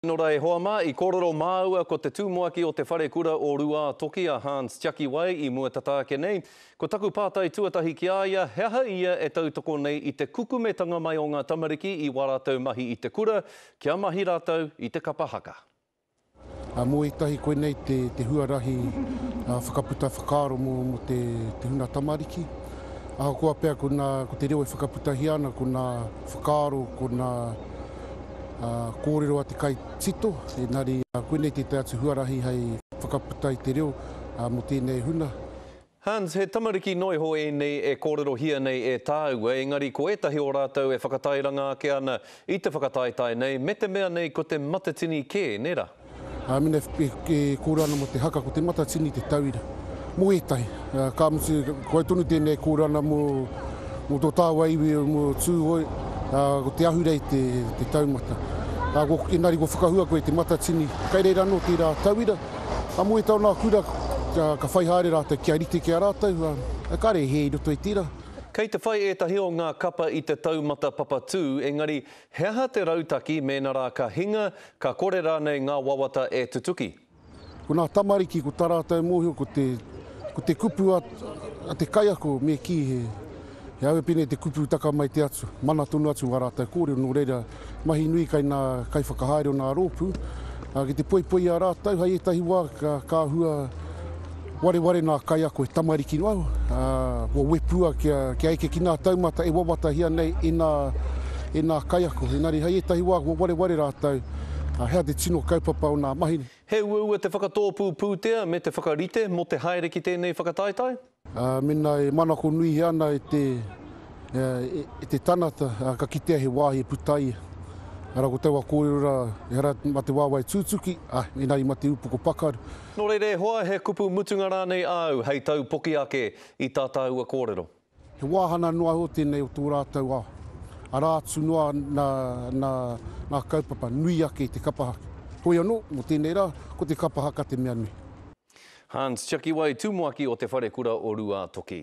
Nō reira e hoa mā, i kōrero māua ko te tūmuaki o te wharekura o Rūātoki a Hans Tiakiwai i mua tata ake nei. Ko taku pātai tuatahi ki a ia, he aha ia e tautoko nei i te kukumetanga mai o ngā tamariki i wā rātou mahi i te kura, kia mahi rātou i te kapa haka. Mō ētahi koinei te huarahi whakaputa whakaaro mō te huna tamariki. Ahakoa pea ko te reo e whakaputahia ana ko ngā whakaaro, ko ngā. kōrero a te kai tito, engari koinei tētahi atu huarahi hei whakaputa i te reo mō tēnei huna. Hans, he tamariki noa iho ēnei e kōrerohia nei e tāua, engari ko ētahi o rātou e whakatairanga ake ana i te whakataetae nei, me te mea nei ko te matatini kē, nē rā? Mena e kōrero ana mō te haka ko Te Matatini te tauira. Mō ētahi, ka mutu ko au tonu tēnei e kōrero ana mō tō tāua iwi, mō Tūhoe, ko Te Ahurei te taumata. Engari kua whakahua koe i Te Matatini, kei reira anō tērā tauira, ā, mō ētahi o ngā kura ka whai haere rātou kia rite ki a rātou, ā, kāre he i roto i tērā. Kei te whai ētahi o ngā kapa i te taumata papatū, engari He aha te rautaki mēnā rā ka hinga, ka kore rānei ngā wawata e tutuki? Ko nā tamariki ko tā rātou mōhio ko te ko te kupu a a te kaiako me kī he he aue pēnei te kupu taka mai te atu, mana tonu atu ngā rātou kōrero nō reira mahi nui kai nā kaiwhakahaere o nā rōpū a ki te poipoi i a rātou hai ētahi wā ka ka hua Wareware nā kaiako he tamariki noa au, kua wepua kia eke ki ngā taumata e wawatahia nei e nā, e nā kaiako. Engari hei ētahi wā kua wareware rātou, hea te tino kaupapa o nā mahi nei. He uaua te whakatōpū pūtea me te whakarite mō te haere ki tēnei whakataetae? Mēnā e manako nuihia ana e te, e te tanata, ka kitea he wāhi e puta ai ia. Ara ko taua kōrero rā, ehara mā te wāwae tūtuki, engari mā te upoko pakaru. Nō reira e hoa, he kupu mutunga rānei āu hei taupoki ake i tā tāua kōrero? He wāhanga noa iho tēnei o tō rātou ao, arā atu noa nā ngā kaupapa nui ake i te kapa haka. Hoi anō, mō tēnei rā, ko te kapa haka te mea nui. Hans Tiakiwai, Tumuaki o Te Wharekura o Ruātoki.